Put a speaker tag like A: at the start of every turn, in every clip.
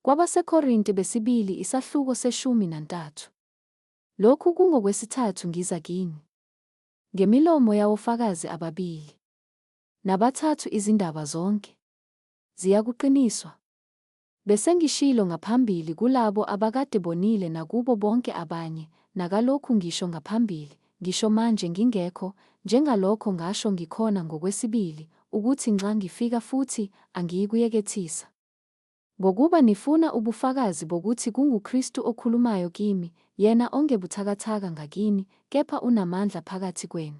A: KwabaseKorinte besibili isahluko seshumi nantathu. Lokhu kungokwesithathu ngiza kini. Ngemilomo yawofakazi ababili. Nabathathu izindaba zonke. Ziyakuqiniswa. Besengishilo ngaphambili kulabo abakade bonile nakubo bonke abanye, nakalokhu ngisho ngaphambili, ngisho manje ngingekho, njengalokho ngasho ngikhona ngokwesibili, ukuthi nxa ngifika futhi, angiyikuyekethisa. Ngokuba nifuna ubufakazi bokuthi kunguKristu okhulumayo kimi, yena ongebuthakathaka ngakini, kepha unamandla phakathi kwenu.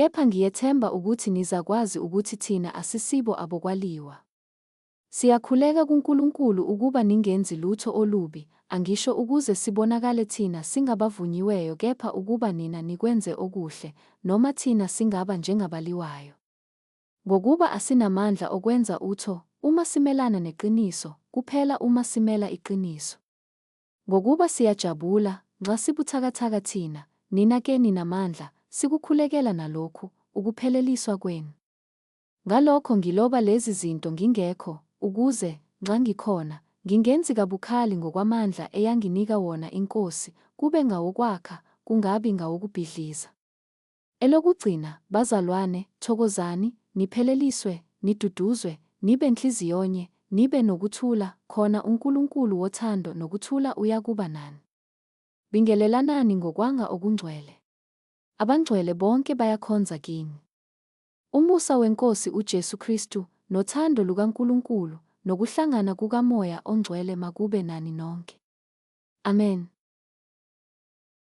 A: Kepha ngiyethemba ukuthi nizakwazi ukuthi thina asisibo abokwaliwa. Siyakhuleka kuNkulunkulu ukuba ningenzi lutho olubi, angisho ukuze sibonakale thina singabavunyiweyo kepha ukuba nina nikwenze okuhle, noma thina singaba njengabaliwayo. Ngokuba asinamandla okwenza utho uma simelana neqiniso, kuphela uma simela iqiniso. Ngokuba siyajabula, nxa sibuthakathaka thina, nina ke ninamandla, sikukhulekela nalokhu, ukupheleliswa kwenu. Ngalokho ngiloba lezi zinto ngingekho, ukuze, nxa ngikhona, ngingenzi kabukhali ngokwamandla eyanginika wona iNkosi, kube ngawokwakha, kungabi ngawokubhidliza. Elokugcina, bazalwane, thokozani, nipheleliswe, niduduzwe, nibe nhliziyonye, nibe nokuthula, khona uNkulunkulu wothando nokuthula uyakuba nani. Bingelelanani ngokwanga okungcwele. Abangcwele bonke bayakhonza kini. Umusa weNkosi uJesu Kristu, nothando lukaNkulunkulu, nokuhlangana kukaMoya oNgcwele makube nani nonke. Amen.